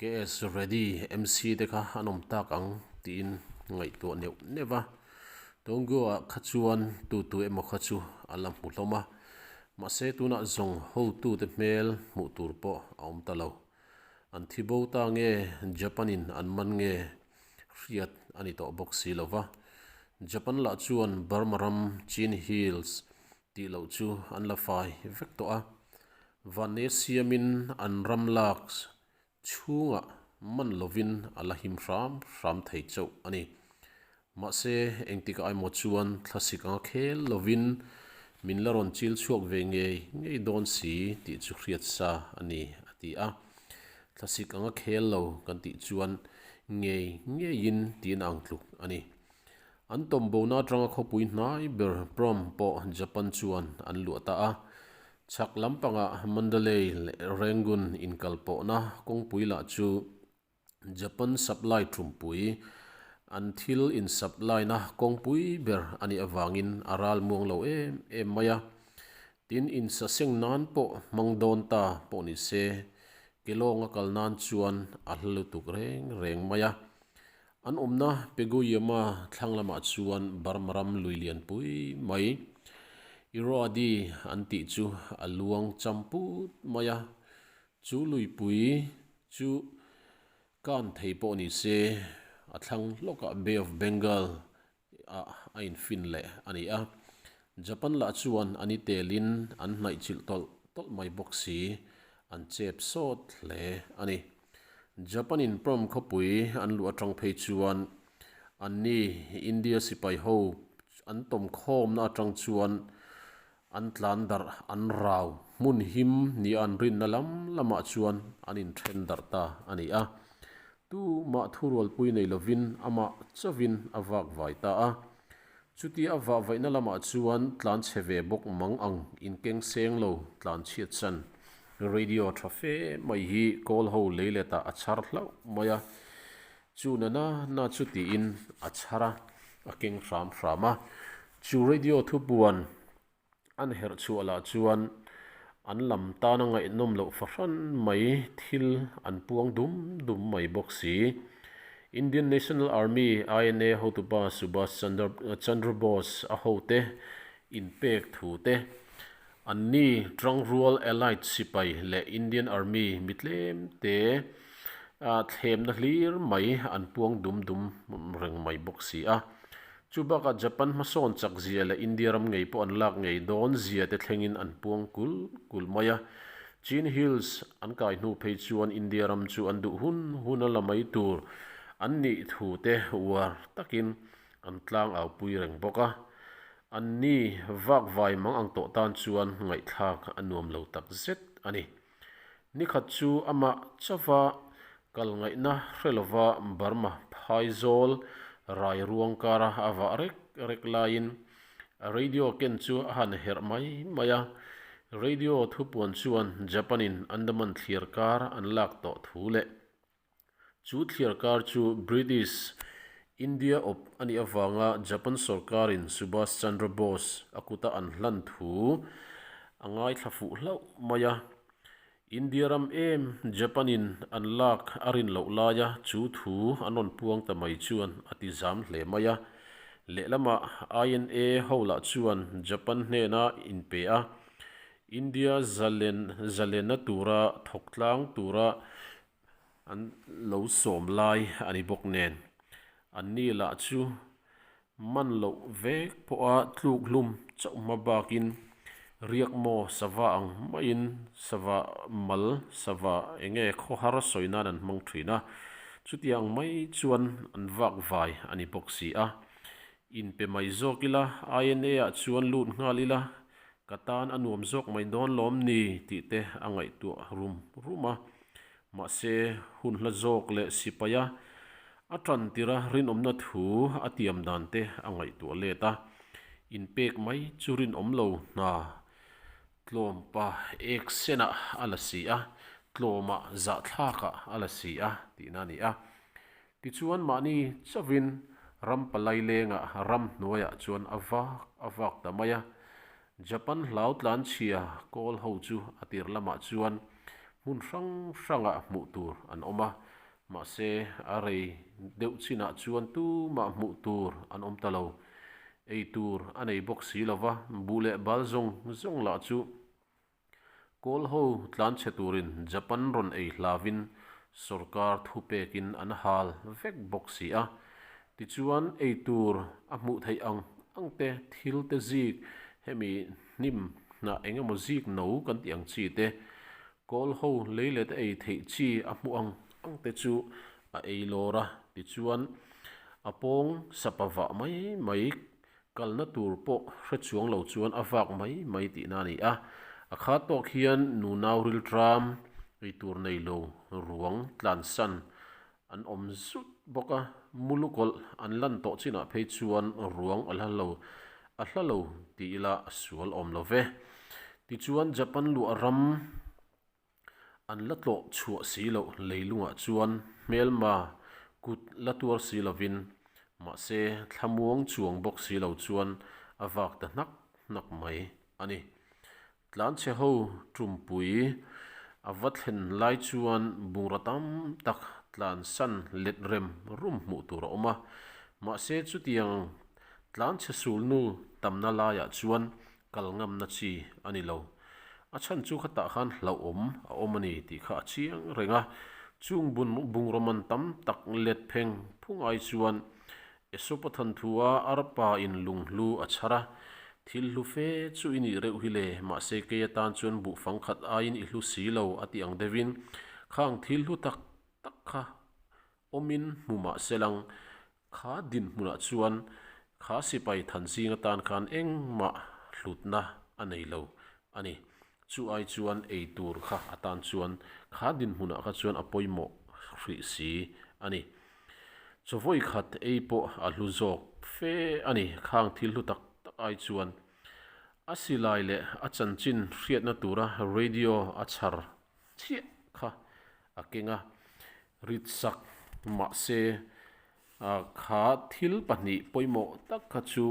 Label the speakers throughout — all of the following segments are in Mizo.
Speaker 1: KS ready MC te kha an awm tak ang tiin ngaihtuah neuh neuh a, Tongyo ah kha chuan tutu emaw kha chu a la hmu hlawm a, mahse tunah zawng hotu te hmel hmuh tur pawh a awm ta lo. An thi bo ta nge Japan in an man nge hriat a ni tawh bawk si lo va, Japan lah chuan Burma ram, Chin Hills, Tih loh chu an la fai vek tawh a, Vane siamin an ram lak chhungah man lovin a la him hram hram thei chauh a ni. Mahse, engtikah emaw chuan thlasik anga khel lovin min la rawn chil chhuak ve ngei ngei dawn si tih chu hriat sa a ni, a ti a. Thlasik anga khel lo kan tih chuan ngei ngeiin tiin a ang tluk a ni. An tawmbohna atanga khawpui hnai ber prom pawh Japan chuan an luah ta a. Chhak lampanga Mandalay leh Rangoon inkal pawhna kawngpui lah chu Japan supply thumpui, an thil in supply na kawngpui ber a nih avangin a ral muang lo em em mai a. Tin insaseng nan pawh hmang dawn ta pawh ni se, Kelong a kal nan chuan a hla lutuk reng reng mai a. An awmna Peguiyama thlang lamah chuan Burma ram lui lian pui mai Irrawaddy an tih chu a luang cham put mai a, chu luipui chu kan thei pawh ni se a thlang hlawkah Bay of Bengal ah a infin leh a ni a. Japan lah chuan an i telin an hnaihchilh tawlh tawlh mai bawk si an chep sawt hle a ni. Japan-in prom khawpui an luh atang phei chuan anni India sipai ho an tawmkhawmna atang chuan An tlan darh an rau hmun him nia an rinna lam lamah chuan an inthen darh ta a ni a. Tu mah thu rualpui nei lovin amah chauhin a vak vai ta a. Chuti a vah vaihna lamah chuan tlan chhe ve bawk mang ang inkeng seng lo tlan chhiat chan. Radio tha fe mai hi Kawl ho leiletah a chhar hlauh mai a. Chu nana na chu tiin a chhar a, a keng hram hram a. Chu radio thupuan an herh chhuah lah chuan an lam tana ngaihnawm loh fahran mai thil an puang dum dum mai bawk si. Indian National Army, INA, hotupa Subhash Chandra Bose a hote inpek thu te An ni Trang Rual Allied Sipai leh Indian Army mi tlem te a thlemna hlir mai an puang dum dum reng mai bawk si a. Chu bakah Japan hmasawn chak zia leh India ram ngei pawh an lak ngei dawn zia te thlengin an puang kul kul mai a. Chin Hills an kai hnu phei chuan India ram chu an duh hun hun a la mai tur an nih thu te uar takin an tlang aupui reng bawk a, an ni vak vai mang ang tawh tan chuan ngaihthlak a nuam lo tak zet a ni. Ni khat chu a mah chauh a, kal ngaihna hre lova Burma phai zawl rai ruang kara a vah rek rek laiin radio ken chu a han herh mai mai a, radio thupuan chuan Japan-in Andaman thlir kar an lak tawh thu leh. Chu thliar kar chu British India awp a nih avanga Japan sorkarin Subhas Chandra Bose a kuta an hlan thu a ngaithla fuh hlauh mai a. India ram em Japanin an lak a rin loh laia chu thu an rawn puang ta mai chuan a ti zam hle mai a. Lehlamah INA ho lah chuan Japan hnena in pe a, India zalen zalena tura thawk tlang tura an lo sawm lai a ni bawk nen. An ni lah chu man loh vek pawha tluk hlum chauh hma bakin riak maw sava ang maiin sava mal sava enge khawhar sawi nan an hmang thin a. Chutiang mai chuan an vak vai a ni bawk si a. In pe mai zawk ila, INA-ah chuan lut nghal ila, ka tan a nuam zawk mai dawn lawm ni tih te a ngaihtuah rum rum a. Mahse, hun hla zawk leh sipaia a tan tira rinawmna thu a tiam dan te a ngaihtuah let a. In pek mai chu rinawm lo hna. Tlawmpa eksena a la si a, tlawma zahthlakah a la si a tihna a ni a. Tichuan mahni chauhin ram palai lenga ram hnuaiah chuan a vak a vak ta mai a. Japan hlau tlanchhia kawl ho chu a tir lamah chuan hmun hrang hranga hmuh tur an awm a, mahse a rei deuh chinah chuan tumah hmuh tur an awm ta lo. Ei tur a nei bawk si lova, buh leh bal zawng zawng lah chu Kawl ho tlanchhe turin Japan rawn ei hlavin sorkar thu pekin an hal vek bawk si a, tichuan ei tur a hmuh theih ang angte thil te zik hemi hnim hnah engemaw zik no kan tih ang chi te, kawl ho lei let ei theih chi a hmuh ang angte chu a ei lawr a, tichuan a pawng sapa vah mai mai Kalna tur pawh hre chuang lo chuan a vak mai mai tihna a ni a. A kha tawk hian nu nau riltram, eitur nei lo, ruang tlansan an awm zut bawk a. Mulu kawlh an lan tawh chinah phei chuan ruang a hla lo, a hla lo ti ila a sual awm lo ve. Tichuan Japan luah ram. An la tlawh chhuah si lo leilungah chuan hmelma kut la tuar si lovin, mahse thlamuang chuang bawk si lo chuan a vak ta hnak hnak mai a ni. Tlanchhe ho ṭumpui a va thlen lai chuan bungra tam tak tlan san let rem rum hmuh tur a awm a. Mahse chutiang tlanchhe sulnu tamna laiah chuan Kal ngamna chi a ni lo. A chhan chu khatah khan hlauhawm a awm a ni tih kha a chiang reng a. Chung bun bungrawn tam tak let pheng phung ai chuan Esopa thanthua arpa in lung hlu a chhar a, Thil hlu fe chu i nih reuh hi le, mahse kei atan chuan buhfang khat aiin i hlu si lo a tih ang deuh in khang thil hlu tak tak kha Awmin hmu mah se lang, kha dinhmunah chuan kha sipai thanzing atan khan engmah hlutna a nei lo a ni. Chu ai chuan ei tur kha atan chuan kha dinhmunah kha chuan a pawimawh hrih si a ni. Chawvawi khat ei pawh a hlu zawk fe a ni. Khang thil hlu tak tak ai chuan a silai leh a chanchin hriatna tura radio a chhar chiah kha A keng a rit sak mahse a kha thil pahnih pawimawh tak kha chu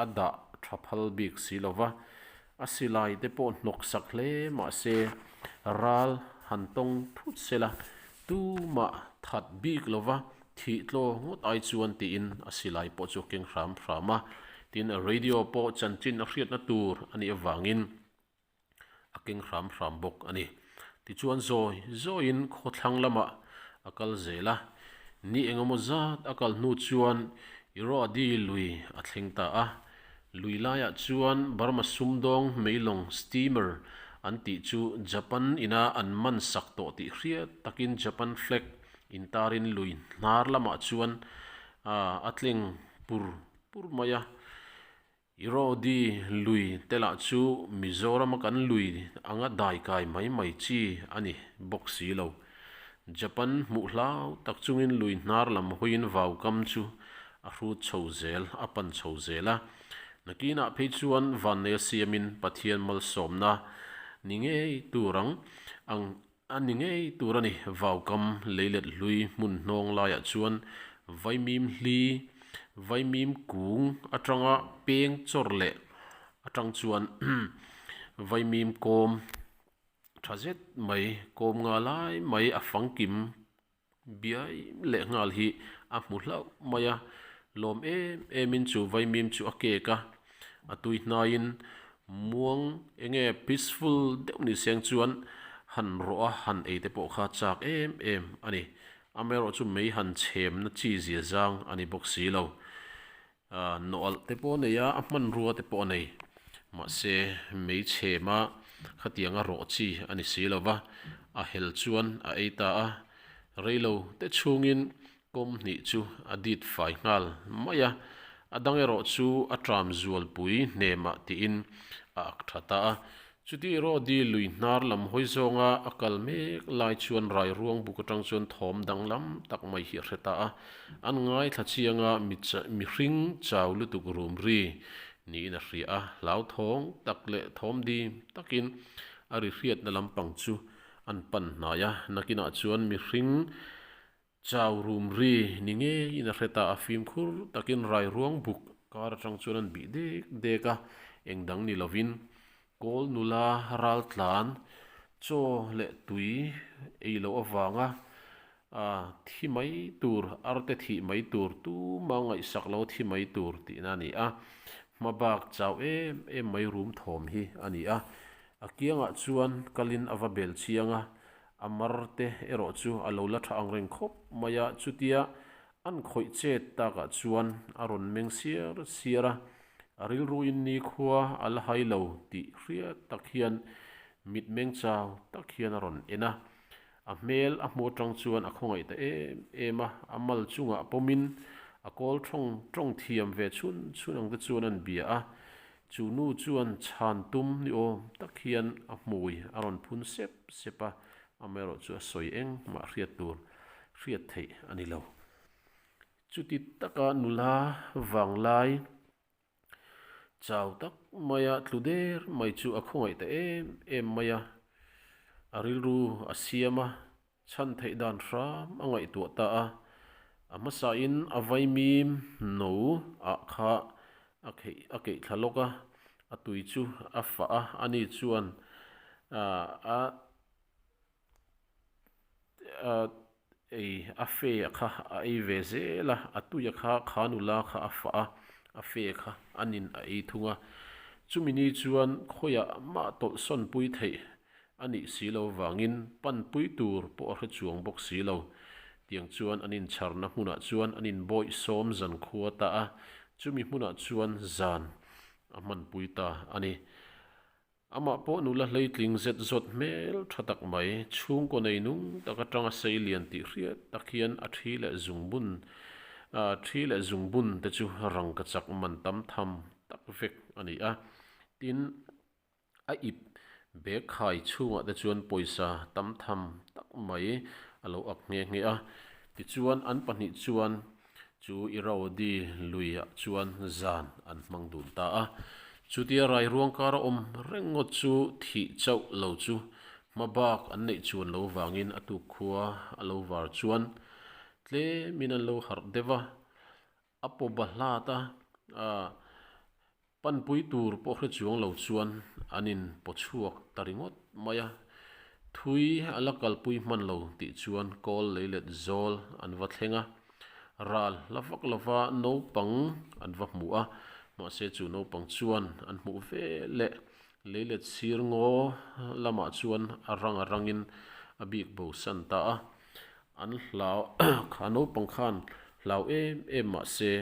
Speaker 1: a dah tha phal bik si lo va, a silai te pawh hnawk sak hle mahse ral han tawng phut sela tumah that bik lo va thih tlaw ngawt ai chuan tiin a silai pawh chu a keng hram hram a, tin radio pawh chanchin a hriatna tur a nih avangin. a keng hram hram bawk a ni. Tichuan zawi zawiin khaw thlang lamah a kal zel a, ni eng emaw zat a kal hnu chuan Irrawaddy lui a thleng ta a. Lui laiah chuan Burma Sumdawng meilawng steamer an tih chu Japan ina an man sak tawh tih hriat takin Japan flag in tarin lui hnar lamah chuan a tleng pur pur mai a. Irodi lui te lah chu Mizoram a kan lui ang a dai kai mai mai chi a ni bawk si lo. Japan hmuh hlau tak chungin lui hnar lam hawiin vau kam chu a hrut chho zel, a pan chho zel a. Nakinah phei chuan vannei a siamin Pathian malsawmna ni ngei tur ang ang A ni ngei tur a ni. Vaukam lei let hlui hmun hnawng laiah chuan Vaimim hli, Vaimim kung atanga peng chawr leh atang chuan Vaimim kawm tha zet mai, kawm nga lai mai a fangkim, biai leh nghal hi a hmu hlauh mai a, lawm em em in chu vaimim chu a kek a, a tui hnai in muang enge peaceful deuh ni seng chuan han rawh a, han ei te pawh kha chak em em a ni, amaherawhchu mei han chhem na chi zia zang a ni bawk si lo. A nawlh te pawh a nei a, a hmanrua te pawh a nei. Mahse, mei chhema khatiang a rawh chi a ni si lo va, a hel chuan a ei ta a. Reilo te chhungin kawm hnih chu a dit fai nghal mai a, a dang erawh chu a tram zualpui hnemah tiin a ak tha ta a. Chutih erawh di lui hnar lam hawi zawnga a kal mek lai chuan rairuang buk atang chuan thawm danglam tak mai hi a hre ta a, an ngai thla chianga mi mi hring chau lutuk rum ri niin a hria a, hlauthawng tak leh thawm dim takin a ri hriatna lampang chu an pan hnai a, nakinah chuan mi hring Chau rum ri ni ngeiin a hret a, a fimkhur takin rairuang buk kar atang chuan an bih dek dek a, eng dang ni lovin Kawl nula ral tlan chaw leh tui ei loh avanga a thi mai tur arte thih mai tur tuma ngaihsak lo thi mai tur tihna a ni a, hma bak chau em em mai rum thawm hi a ni a, a kiangah chuan kalin a va belchiang a. A mar te erawh chu a lo la tha ang reng khawp mai a, chutia an khawih chet takah chuan a rawn meng siar siar a, a rilruin nikhua a la hai lo tih hriat tak hian mitmeng chau tak hian a rawn en a. A hmel a hmu atang chuan a khawngaih ta em em a, a mal chungah pawmin a kawl ṭhawng ṭawng thiam ve chhun chhun ang te chuan a inbia a, Chu nu chuan chhan tum ni awm tak hian a hmui a rawn phun sep sep a, amaherawh chu a sawi eng mah hriat tur hriat theih a ni lo. Chuti taka nula vanglai chau tak maia tlu der mai chu a khawngaih ta em em mai a, a rilru a siam a. chhan theih dan hram a ngaihtuah ta a, a hmasain a vaimi no ah kha a kheih a keih thla lawk a, a tui chu a fah a, ani chuan a ei a fe a kha a ei ve zel a, a tui a kha kha nula kha a fah a, a fe a kha a nin a ei thung a, chumi ni chuan khawiah mah tawlh sawn pui theih A nih si lo vangin panpui tur pawh a hre chuang bawk si lo. Tiang chuan an incharna hmunah chuan an inbawi sawm zan khua ta a, chumi hmunah chuan zan a hmanpui ta a ni. Amah pawh nula hleitling zet zawt hmel tha tak mai, chhungkaw nei nung tak atanga sei lian tih hriat tak hian a thi leh zung bun a thi leh zung bun te chu rangkachak man tam tham tak vek a ni a, tin A ip bag khai chhungah te chuan pawisa tam tham tak mai a lo ak nghe nghe a. Tichuan an pahnih chuan chu Irrawaddy luiah chuan zan an hmang dun ta a. Chutia rairuang kara awm reng ngawt chu thih chauh lo chu hma bak an neih chuan lo vangin a tuk khua a lo var chuan tlemin an lo harh deuh a. A pawpa Hlata panpui tur pawh hrechuang lo chuan an in paw chhuak ta ringawt mai a. Thui a la kalpui hman lo tih chuan kawl lei let zawl an va thleng a. Ral hla vak lova naupang an va hmu a, mahse chu naupang chuan an hmuh ve leh Lei let sir ngaw lamah chuan a rang a rangin a bik bo san ta a. An hlau kha naupang khan hlau em em mahse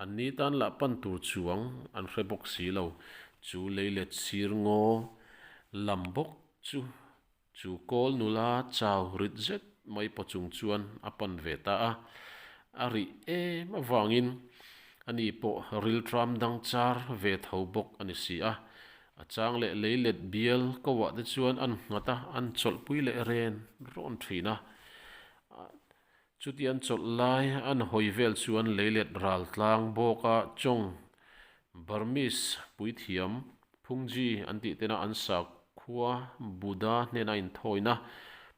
Speaker 1: an ni tan lah pan tur chuang an hre bawk si lo. Chu lei let sir ngaw lam bawk chu Chu kawl nula chau rit zet mai paw chung chuan a pan ve ta a, a rih em avangin a ni pawh riltram dang char ve tho bawk a ni si a. A chang leh lei let bial kohah te chuan an nghat a, an chawlhpui leh ren rawn thin a. Chuti an chawlh lai, an hawi vel chu an lei let ral tlang bawk a, Chong, Burmese, Puithiam, Phungji an tih tena an sakhua Buddha hnena inthawina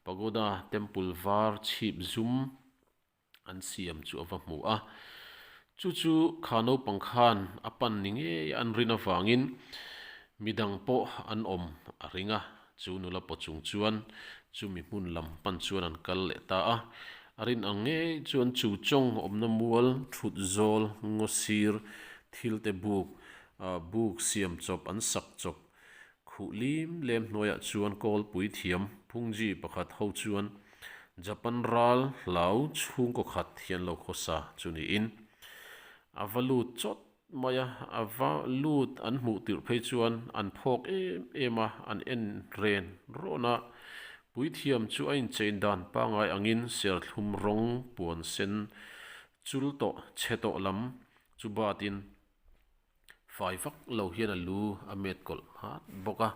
Speaker 1: Pagoda, Temple, var chhip zum an siam chu a va hmu a. Chu chu kha naupang khan a pan ni ngei an rin avangin midang pawh an awm a ring a. Chu nula paw chung chuan chu mi hmun lam pan chuan an kal leh ta a. A rin ang ngei chuan chu chawng awmna mual, thut zawl, ngaw sir, thil te buk, buk siam chawp an sak chawp, Khuh lim lem hnuaiah chuan kawl puithiam phungzhi pakhat ho chuan Japan ral hlau chhungkaw khat hi an lo khaw sa chu niin a va lut chawt mai a, a va lut an hmuh tirh phei chuan an phawk em em a, an en ren rawn a. Puithiam chu a inchein dan pangai angin serthlum rawng puan sen chul tawh, che tawh lam chu batin Fai vak lo hian a lu a met kawlh hmat bawk a,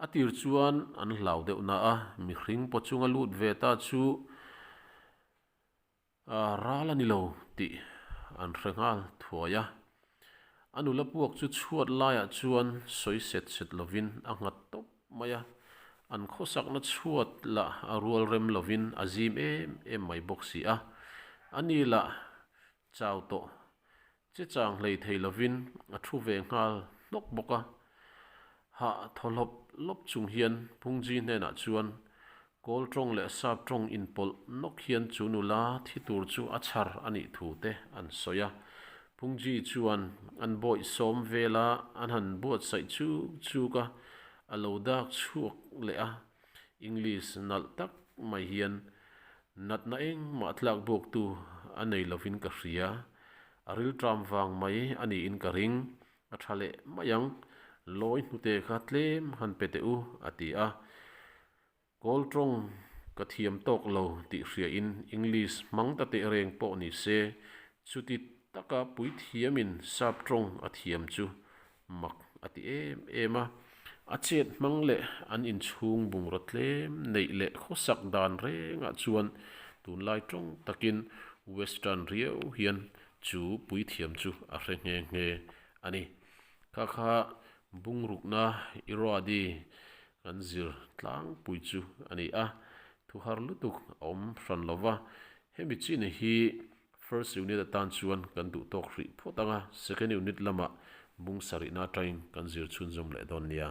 Speaker 1: a tir chuan an hlau deuh na a, mihring paw chunga lut ve ta chu aah ral a ni lo tih an hre nghal thuai a, a nula puak chu chhuat laiah chuan sawi set set lovin a nghat tawp mai a, an khawsakna chhuat lah a rual rem lovin a zim em em mai bawk si a, ani lah chau tawh Che chang hlei thei lovin a thu ve nghal hnawk bawk a. Hah thaw hlawp hlawp chung hian Phungzhi hnenah chuan kawl tawng leh sap tawng inpawlh nawk hian chu nula thi tur chu a chhar a nih thu te an sawi a. Phungzhi chuan an bawi sawm vel a, an han buatsaih chuk chuk a, a lo dak chhuak leh a. English nalh tak mai hian Natna engmah tlak bawktu a nei lovin ka hria, a rilṭam vang mai a niin ka ring. A ṭha leh mai ang, lawi hnute kha tlem han pe teh u, a ti a. Kawl ṭawng ka thiam tawk lo tih hriain English hmang ta teh reng pawh ni se, chuti taka puithiamin sap ṭawng a thiam chu Mak a ti em em a. A chet hmang leh an inchhung bungraw tlem neih leh khawsak dan rengah chuan tunlai tawng takin Western riau hian chu puithiam chu a hre nghe nghe a ni. Kha kha bungrukna Irrawaddy kan zir tlangpui chu a ni a, thuhar lutuk a awm hran lo va. Hemi chin hi First unit atan chuan kan duh tawk hrih phawt ang a, second unit lamah bungsa rihna atangin kan zir chhunzawm leh dawn nia.